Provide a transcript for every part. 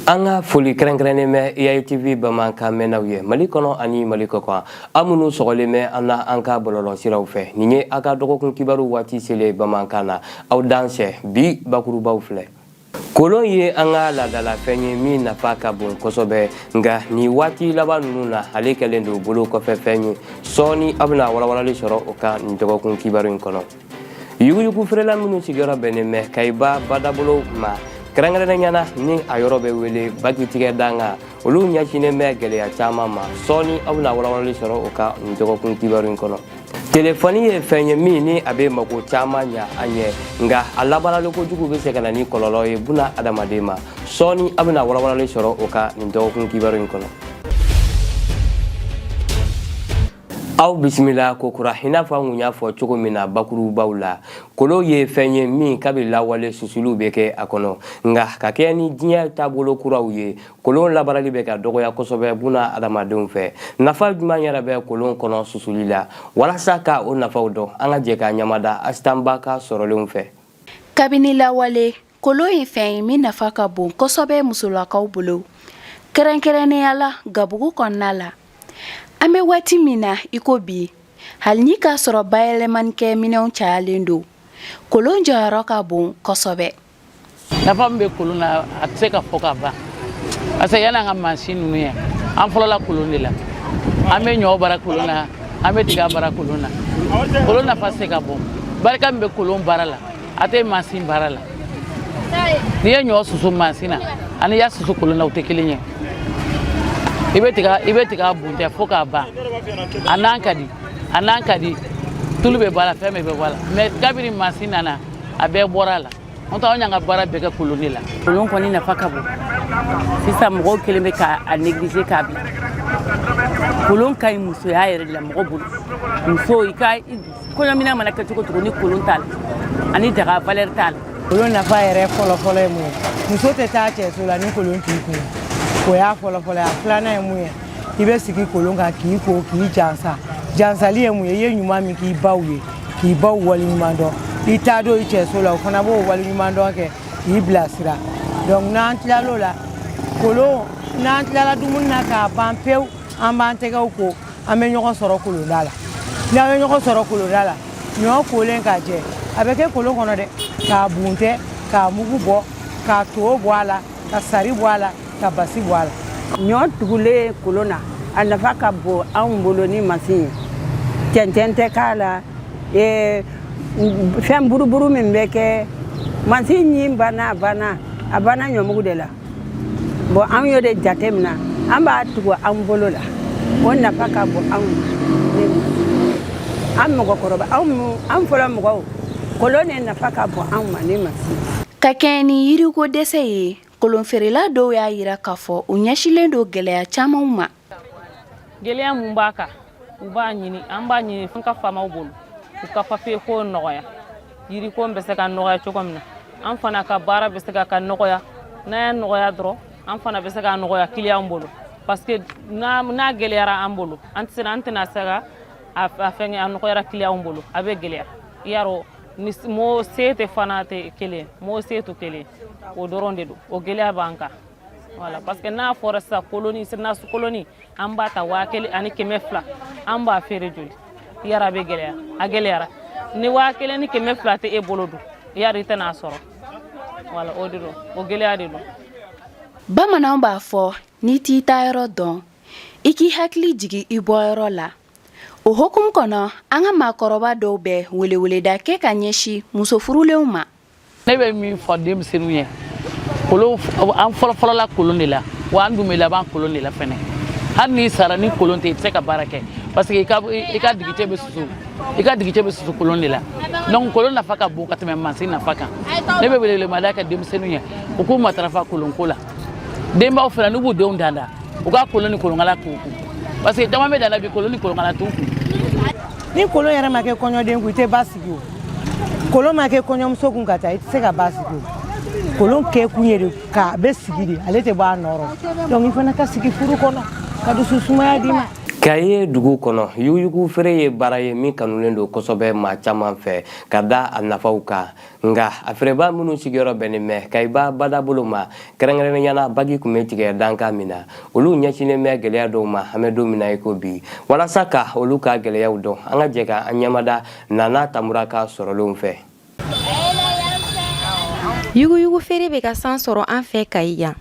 an ka foli kɛrɛnkɛrɛnnen bɛ EATV bamanankan mɛnnaw ye Mali kɔnɔ ani Mali kɔkan aw minnu sɔgɔlen bɛ an na an ka bɔlɔlɔsiraw fɛ nin ye aw ka dɔgɔkun kibaru waati selen bamanankan na aw dansɛ bi bakurubaw filɛ kolon ye an ka laadalafɛn ye min nafa ka bon kosɛbɛ nka nin waati laban ninnu na ale kɛlen don bolo kɔfɛ fɛn ye sɔɔni aw bɛna walawalali sɔrɔ o kan nin dɔgɔkun kibaru in kɔnɔ yuguyugu feerela minnu sigiyɔrɔ bɛnnen bɛ Kayiba badabolo ma kɛrɛnkɛrɛnnenya na ni a yɔrɔ bɛ wele bakitigɛ dankan olu ɲɛsinnen bɛ gɛlɛya caman ma sɔɔni aw bɛna walawalali sɔrɔ o kan nin dɔgɔkun kibaru in kɔnɔ telefɔni ye fɛn ye min ni a bɛ mako caman ɲa an ye nka a labaarali kojugu bɛ se ka na ni kɔlɔlɔ ye buna adamaden ma sɔɔni aw bɛna walawalali sɔrɔ o kan nin dɔgɔkun kibaru in kɔnɔ aw bisimila kokura i n'a fɔ an kun y'a fɔ cogo min na bakurubaw la kolon ye fɛn ye min kabi lawale susuliw bɛ kɛ a kɔnɔ nka ka kɛɲɛ ni diɲɛ taabolo kuraw ye kolon labaarali bɛ ka dɔgɔya kosɛbɛ buna adamadenw fɛ nafa jumɛn yɛrɛ bɛ kolon kɔnɔ susuli la walasa ka o nafaw dɔn an ka jɛ ka ɲamada Asitan Ba ka sɔrɔlenw fɛ kabini lawale Kolon ye fɛn ye min nafa ka bon kosɛbɛ musolakaw bolo kɛrɛnkɛrɛnnenya la gabugu kɔnɔna la an bɛ waati min na iko bi hali n'i k'a sɔrɔ bayɛlɛmanikɛminɛnw cayalen don kolon jɔyɔrɔ ka bon kosɛbɛ nafa min bɛ kolon na a tɛ se ka fɔ ka ban parce que yann'an ka mansin ninnu ye an fɔlɔla kolon de la an bɛ ɲɔ baara kolon na an bɛ tiga baara kolon na kolon nafa se ka bon barika min bɛ kolon baara la a tɛ mansin baara la n'i ye ɲɔ susu mansin na ani i y'a susu kolon na o tɛ kelen ye i bɛ tiga buntɛ fo k'a ban a nan ka di a nan ka di tulu bɛɛ b'a la fɛn bɛɛ b'a la mais kabiri mansin nana a bɛɛ bɔra a la n'o tɛ anw y'an ka baara bɛɛ kɛ kolon de la kolon kɔni nafa ka bon sisan mɔgɔw kɛlen bɛ k'a négliger k'a bila kolon ka ɲi musoya yɛrɛ de la mɔgɔ bolo muso i ka kɔɲɔminan mana kɛ cogo cogo ni kolon t'a la ani daga valeur t'a la kolon nafa yɛrɛ fɔlɔfɔlɔ ye mun ye muso tɛ taa cɛso la ni kolon t'i kun o y'a fɔlɔfɔlɔ ye a filanan ye mun ye i bɛ sigi kolon kan k'i ko k'i jansa jansali ye mun ye i ye ɲuman min k'i baw ye k'i baw waleɲuman dɔn i taadon i cɛso la o fana b'o waleɲuman dɔn kɛ k'i bilasira donc n'an tilal'o la kolon n'an tilala dumuni na k'a ban pewu an b'an tɛgɛw ko an bɛ ɲɔgɔn sɔrɔ kolonda la ni an bɛ ɲɔgɔn sɔrɔ kolonda la ɲɔ kolen k'a jɛ a bɛ kɛ kolon kɔnɔ de k'a buntɛ k'a mugu bɔ k'a to bɔ a la ka sari bɔ a la ka basi bɔ a la ɲɔ tugulen kolon na a nafa ka bon anw bolo ni masin ye cɛncɛn tɛ k'a la eh, fɛn buruburu min bɛ kɛ masin ɲin banna a banna a banna ɲɔmugu de la bon anw y'o de jateminɛ an b'a tugu an bolo la o nafa ka bon anw ma an mɔgɔkɔrɔba anw fɔlɔ mɔgɔw kolon ne nafa ka bon anw ma ni mansin ka kɛɲɛ ni yiriko dɛsɛ ye kolonfeerela dɔw y'a jira k'a fɔ u ɲɛsilen don gɛlɛya camanw ma gɛlɛya mun b'a kan u b'a ɲini an b'a ɲini fɛn ka faamaw bolo u ka papiye ko nɔgɔya yiriko bɛ se ka nɔgɔya cogo min na an fana ka baara bɛ se ka ka nɔgɔya n'a y'a nɔgɔya dɔrɔn an fana bɛ se ka nɔgɔya kiliyan bolo parce que n'a gɛlɛyara an bolo an tɛ an tɛna se ka a fɛnkɛ a nɔgɔya kiliyanw bolo a bɛ gɛlɛya i y'a dɔn ni mɔɔ se tɛ fana tɛ kelen mɔɔ se tɛ kelen o dɔrɔn de don o gɛlɛya b'an kan Wala parce que n'a fɔra sisan koloni sinasu koloni an b'a ta waa kelen ani kɛmɛ fila an b'a feere joli yara bɛ gɛlɛya a gɛlɛyara ni waa kelen ni kɛmɛ fila tɛ e bolo dun yari i tɛna a sɔrɔ wala o de don o gɛlɛya de don bamananw b'a fɔ n'i t'i taayɔrɔ dɔn i k'i hakili jigi i bɔyɔrɔ la o hokumu kɔnɔ an ka maakɔrɔba dɔw bɛ weleweleda kɛ ka ɲɛsi muso furulenw ma ne bɛ min fɔ denmisɛnninw ye kolon an fɔlɔfɔlɔla kolon de la wa an dun bɛ laban kolon de la fɛnɛ hali n'i sara ni kolon tɛ i tɛ se ka baara kɛ parce que i ka digicɛ bɛ susu kolon de la donc kolon nafa ka bon ka tɛmɛ mansin nafa kan ne bɛ welewelemada kɛ denmisɛnninw ye u k'u matarafa kolonko la denbaw fana n'u b'u denw danda u ka kolon ni kolonkala k'u kun parce que caman bɛ danda bi kolon ni kolonkala t'u kun ni kolon yɛrɛ ma kɛ kɔɲɔden kun i tɛ basigi o kolon ma kɛ kɔɲɔmuso kun ka taa i tɛ se ka basigi o kolon kɛ kun ye de ka a bɛ sigi de ale tɛ bɔ a nɔ rɔ donc i fana ka sigi furu kɔnɔ ka dusu sumaya d'i ma kayi dugu kɔnɔ yuguyugu feere ye baara ye min kanulen don kosɛbɛ maa caman fɛ ka da a nafaw kan nka a feerebaa minnu sigiyɔrɔ bɛnnen bɛ kayiba badabolo ma kɛrɛnkɛrɛnnenya la bagi tun bɛ tigɛ dankan min na olu ɲɛsinnen bɛ gɛlɛya dɔw ma an bɛ don min na i ko bi walasa ka olu ka gɛlɛyaw dɔn an ka jɛ ka an ɲɛmada nana tamura ka sɔrɔlenw fɛ yuguyugu feere bɛ ka sanga sɔrɔ an fɛ kayi yan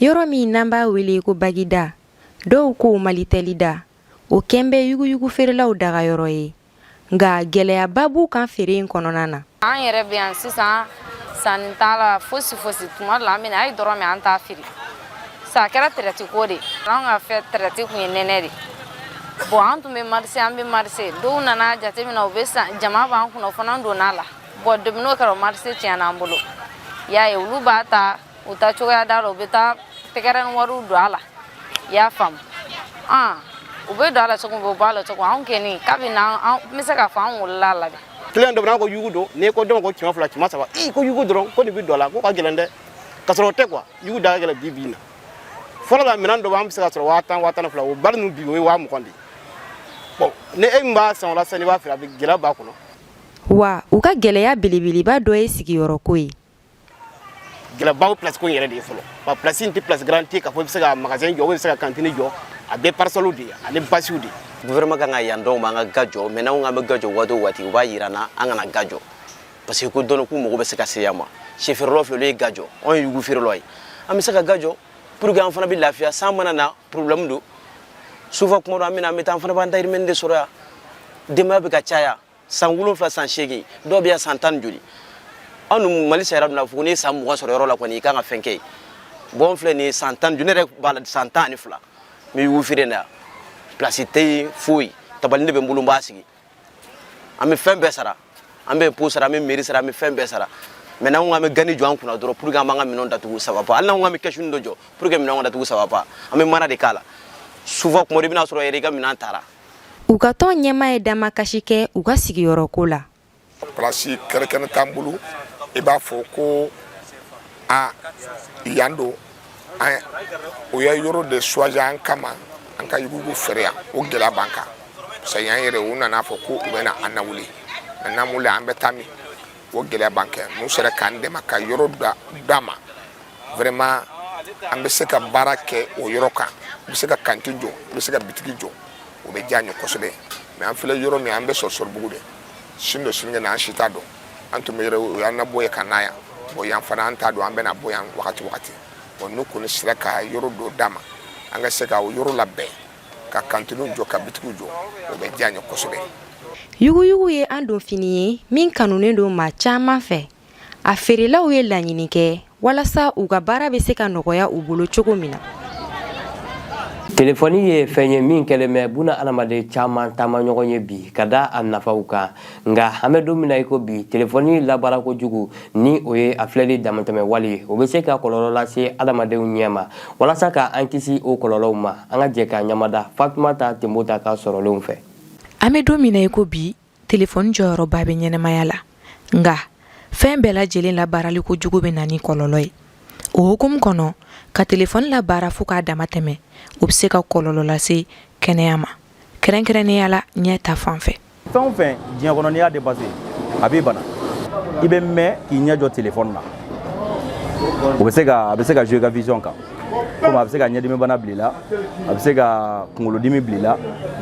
yɔrɔ min n'an b'a wele ko bagida dɔw ko malitɛlida o kɛlen bɛ yuguyugu feerelaw dagayɔrɔ ye nka gɛlɛyaba b'u kan feere in kɔnɔna na an yɛrɛ bɛ yan sisan sanni t'a la fosi fosi tuma dɔ la an bɛna a ye dɔrɔn mɛ an t'a feere sa a kɛra tɛrɛti ko de an ka fɛn tɛrɛti kun ye nɛnɛ de bon an tun bɛ marise an bɛ marise dɔw nana jateminɛ u bɛ san jama b'an kunna o fana donna a la bon depuis n'o kɛra o marise tiɲɛna an bolo y'a ye olu b'a ta u ta cogoya da la u bɛ taa tɛgɛrɛ ni wariw don a la i y'a faamu an u bɛ don a la cogo min u b'a la cogo anw kɔni kabini an n bɛ se k'a fɔ an wolola a la dɛ kiliyan dɔ bɛ na ko yugu don n'i ko dɔn ko kɛmɛ fila kɛmɛ saba i ko yugu dɔrɔn ko nin bɛ don a la ko ka gɛlɛn dɛ ka sɔrɔ o tɛ kuwa yugu da ka gɛlɛn bi bi in na fɔlɔ la minɛn dɔ b'an bɛ se k'a sɔrɔ waa tan waa tan ni fila o bali ninnu bi o ye waa mugan de ye bɔn ni e min b'a san o la sisan n'i b'a feere a bɛ gɛlɛya b'a kɔnɔ wa u ka gɛlɛya belebeleba dɔ ye sigiyɔrɔko ye gɛlɛyaba place ko in yɛrɛ de ye fɔlɔ wa place in tɛ place garantie ye k'a fɔ i bɛ se ka magasin jɔ i bɛ se ka kantini jɔ a bɛɛ parasɔliw de ye ani basiw de ye gouvernement kan ka yan d'anw ma an ka ga jɔ mɛ n'anw k'an bɛ ga jɔ waati o waati u b'a yira an na an kana ga jɔ parce que ko dɔnni k'u mago bɛ se ka se yan ma sɛfeerelaw filɛ olu ye ga jɔ anw ye yugu feerelaw ye an bɛ se ka ga jɔ pour que an fana bɛ lafiya san mana na problème don souvent kuma dɔ an bɛ na an bɛ taa an fana b'an dayirimɛnin de sɔrɔ yan denbaya bɛ ka caya san wolonfila san seegin dɔw bɛ yan san tan ni joli anw dun mali sariya donna fo n'i ye san mugan sɔrɔ yɔrɔ la kɔni i kan ka fɛn kɛ yen bɔn filɛ nin ye san tan ni joli ne yɛrɛ b'a la san tan ani fila n bɛ yugu feere in na pilasi tɛ yen foyi tabali de bɛ n bolo n b'a sigi an bɛ fɛn bɛɛ sara an bɛ impôt sara an bɛ mɛri sara an bɛ fɛn bɛɛ sara mɛ n'an ko an bɛ gani jɔ an kunna dɔrɔn pour que an b'an ka minɛnw datugu ça va pas hali n'an ko an bɛ kɛsuni dɔ jɔ pour que minɛnw ka datugu ça va pas an bɛ mana de k'a la souvent kuma dɔ i bɛna sɔrɔ yɛrɛ i ka minɛn taara U ka tɔn ɲɛmaa ye damakasi kɛ u ka sigiyɔrɔ ko la pilasi kɛrɛnkɛrɛnnen t'an bolo i b'a fɔ ko a yan don o ye yɔrɔ de choisi an kama an ka yugu feere yan o gɛlɛya b'an kan parce que yan yɛrɛ u nana a fɔ ko u bɛna an nawuli an mana wuli an bɛ taa min o gɛlɛya b'an kan n'u sera k'an dɛmɛ ka yɔrɔ d'an ma vraiment an bɛ se ka baara kɛ o yɔrɔ kan n bɛ se ka kantini jɔ n bɛ se ka bitigi jɔ o bɛ diya an ye kosɛbɛ mɛ an filɛ yɔrɔ min an bɛ sɔnsɔrɔbugu de sini don sinikɛnɛ an si t'a dɔn an tun bɛ yɔrɔ u y'an nabɔ yen ka na yan bɔn yan fana an t'a dɔn an bɛna bɔ yan wagati wagati bɔn n'u kɔni sera ka yɔrɔ dɔ d'an ma an ka se ka o yɔrɔ labɛn ka kantiniw jɔ ka bitigiw jɔ o bɛ diya an ye kosɛbɛ yuguyugu ye an don fini ye min kanunen don maa caman fɛ a feerelaw ye laɲini kɛ walasa u ka baara bɛ se ka nɔgɔya u bolo cogo min na telefɔni ye fɛn ye min kɛlen bɛ bunadamaden caman taamaɲɔgɔn ye bi ka da a nafaw kan nka an bɛ don min na i ko bi telefɔni labaara kojugu ni o ye a filɛli damatɛmɛ wale ye o bɛ se ka kɔlɔlɔ lase adamadenw ɲɛ ma walasa ka an kisi o kɔlɔlɔw ma an ka jɛ ka ɲɛmada fatumata tenbota ka sɔrɔlenw fɛ an bɛ don min na i ko bi telefɔni jɔyɔrɔba bɛ ɲɛnamaya la nka fɛn bɛɛ lajɛlen labaarali kojugu bɛ na ni kɔlɔlɔ ye o hukumu kɔnɔ ka telefɔni labaara fo k'a dama tɛmɛ o bɛ se ka kɔlɔlɔ lase kɛnɛya ma kɛrɛnkɛrɛnnenya la ɲɛ ta fan fɛ fɛn o fɛn diɲɛ kɔnɔ n'i y'a dépassé a b'i bana i bɛ mɛn k'i ɲɛ jɔ telefɔni na o bɛ se ka a bɛ se ka jouer ka vision kan komi a bɛ se ka ɲɛdimibana bila i la a bɛ se ka kunkolodimi bila i la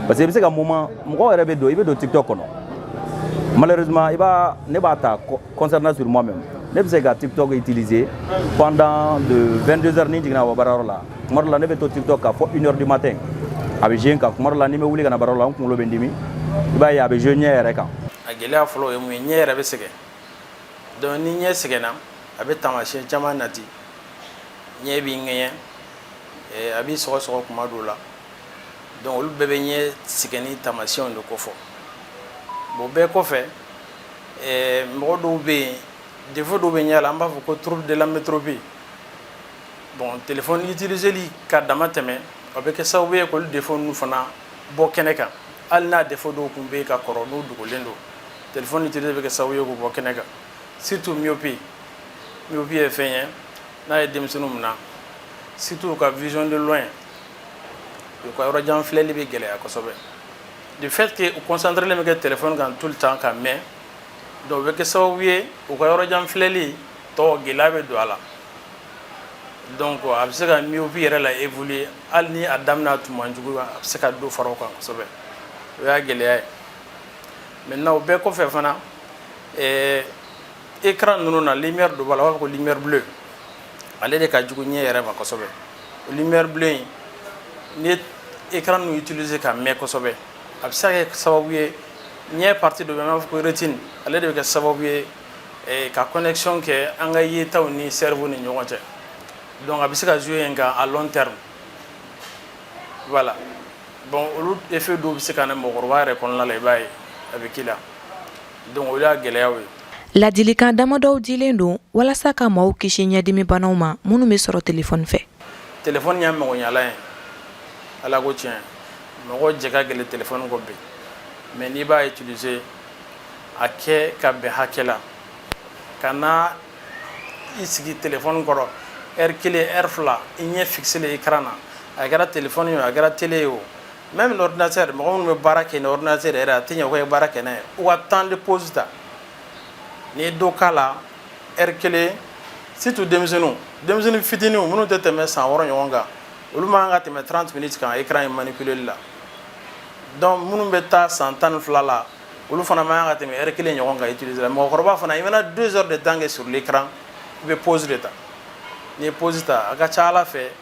parce que i bɛ se ka moment mɔgɔw yɛrɛ bɛ don i bɛ don tiktok kɔnɔ malheureusement i b'a ne b'a ta Concernant sur moi-même, ne bɛ se ka TikTok utiliser pendant de 22 heures ni jiginna baarayɔrɔ la tuma dɔ la ne bɛ to TikTok kan fo une heure du matin a bɛ jouer n kan tuma dɔ la ni n bɛ wuli ka na baarayɔrɔ la n kunkolo bɛ n dimi i b'a ye a bɛ jouer ɲɛ yɛrɛ kan. A gɛlɛya fɔlɔ o ye mun ye ɲɛ yɛrɛ bɛ sɛgɛn donc ni ɲɛ sɛgɛnna a bɛ taamasiyɛn caman nati ɲɛ b'i ŋɛɲɛ a b'i sɔgɔsɔgɔ tuma dɔw la donc olu bɛɛ bɛ ɲɛ sɛgɛnni taamasiyɛnw de kofɔ bon bɛɛ kɔfɛ ɛɛ mɔgɔ dɔw bɛ yen défaut dɔw bɛ ɲɛ la an b'a fɔ ko trouble de l'amétropie bon téléphone utiliser li ka damatɛmɛ o bɛ kɛ sababu ye k'olu défaut ninnu fana bɔ kɛnɛ kan hali n'a défaut dɔw tun bɛ yen ka kɔrɔ n'u dogolen don téléphone utiliser bɛ kɛ sababu ye k'u bɔ kɛnɛ kan surtout myopie myopie ye fɛn ye n'a ye denmisɛnninw minɛ surtout u ka vision de loin u ka yɔrɔjan filɛli bɛ gɛlɛya kosɛbɛ de fait que u concentrélen bɛ kɛ téléphone kan tout le temps ka mɛn donc o bɛ kɛ sababu ye u ka yɔrɔ jan filɛli tɔ gɛlɛya bɛ don a la donc a bɛ se ka myopie yɛrɛ la évoluer hali ni a daminɛ tun man jugu a bɛ se ka dɔ fara o kan kosɛbɛ o y'a gɛlɛya ye maintenant o bɛɛ kɔfɛ fana ɛɛ écran ninnu na lumière dɔ b'a la u b'a fɔ ko lumière bleue ale de ka jugu ɲɛ yɛrɛ ma kosɛbɛ lumière bleue n'i ye écran ninnu utiliser ka mɛn kosɛbɛ a bɛ se ka kɛ sababu ye ɲɛ partie dɔ bɛ yen an b'a fɔ ko rétine ale de bɛ kɛ sababu ye eh, ka connexion kɛ an ka yetaw ni cerveau ni ɲɔgɔn cɛ donc a bɛ se ka jouer yen kan à long terme voilà bon olu effet dɔw bɛ se ka na mɔgɔkɔrɔba yɛrɛ kɔnɔna la i b'a ye a bɛ k'i la Donc o de y'a gɛlɛyaw ye. Ladilikan damadɔw dilen don walasa ka maaw kisi ɲɛdimi banaw ma minnu bɛ sɔrɔ telefɔni fɛ. Telefɔni ye magoɲɛlan ye Ala ko tiɲɛ mɔgɔ jɛ ka gɛlɛn telefɔni kɔ bi mais n'i b'a utiliser a kɛ ka bɛn hakɛ la kana i sigi telefɔni kɔrɔ heure kelen heure fila i ɲɛ fixer écran na a kɛra telefɔni ye o a kɛra télé ye o Même ordinateur mɔgɔ minnu bɛ baara kɛ ni ordinateur yɛrɛ a tɛ ɲɛ k'u ye baara kɛ n'a ye u ka temps de pause ta n'i ye dɔ k'a la heure kelen surtout denmisɛnnin denmisɛnnin fitinin minnu tɛ tɛmɛ san wɔɔrɔ ɲɔgɔn kan olu man kan ka tɛmɛ trente minutes kan écran in manipuler la donc minnu bɛ taa san tan ni fila la olu fana man kan ka tɛmɛ heure kelen ɲɔgɔn kan utiliser la mɔgɔkɔrɔba fana i mana deux heures de temps kɛ sur l'écran i bɛ pause de ta n'i ye pause ta a ka ca a la fɛ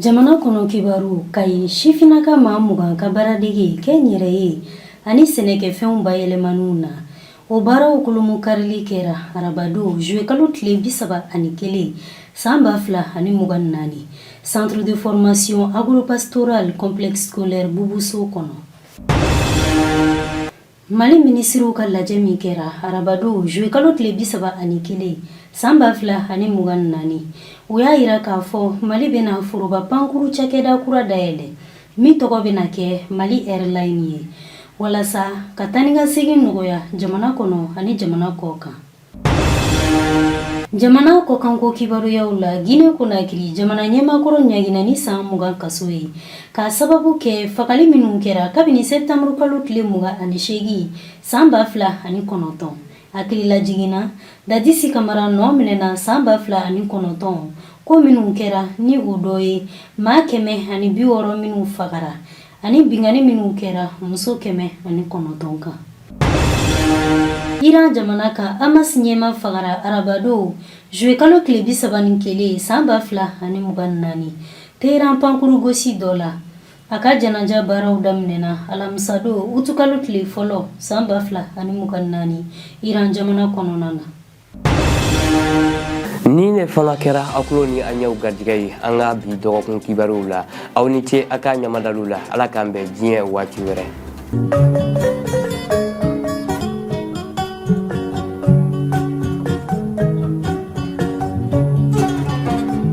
jamana kɔnɔ kibaruw kayi sifinaka maa mugan ka baaradege kɛnyɛrɛye ani sɛnɛkɛfɛnw bayɛlɛmaniw na o baaraw kolomu karili kɛra arabadon zuwekalo tile bi saba ani kelen san ba fila ani mugan naani centre de formation agropastoral complexe scolaire bubu so kɔnɔ Mali minisiriw ka lajɛ min kɛra arabadon zuwekalo tile bi saba ani kelen san ba fila ani mugan naani o y'a yira k'a fɔ mali bɛna foroba pankuru cakɛda kura dayɛlɛ min tɔgɔ bɛna kɛ mali airline ye walasa ka taanikasegin nɔgɔya jamana kɔnɔ ani jamana kɔ kan jamana kɔkanko kibaruyaw la gine konakiri jamana ɲɛmaa kɔrɔ ɲangina ni san mugan kaso ye k'a sababu kɛ fagali minnu kɛra kabini sɛptanburu kalo tile mugan ani seegin san ba fila ani kɔnɔntɔn hakililajigin na dadisi kamara nɔminɛna san ba fila ani kɔnɔntɔn ko minnu kɛra ni o dɔ ye maa kɛmɛ ani bi wɔɔrɔ minnu fagara ani binkanni minnu kɛra muso kɛmɛ ani kɔnɔntɔn kan iran jamana kan hamas ɲɛmaa fagara arabadon zuwe kalo tile bi saba ni kelen san ba fila ani mugan ni naani teheran pankuru gosi dɔ la a ka janaja baaraw daminɛna alamisadon utukalo tile fɔlɔ san ba fila ani mugan ni naani iran jamana kɔnɔna na ni ne fana kɛra aw kulo ni aw ɲɛw garijɛgɛ ye an ka bi dɔgɔkun kibaruw la aw ni ce a ka ɲɛmadali la ala k'an bɛn diɲɛ waati wɛrɛ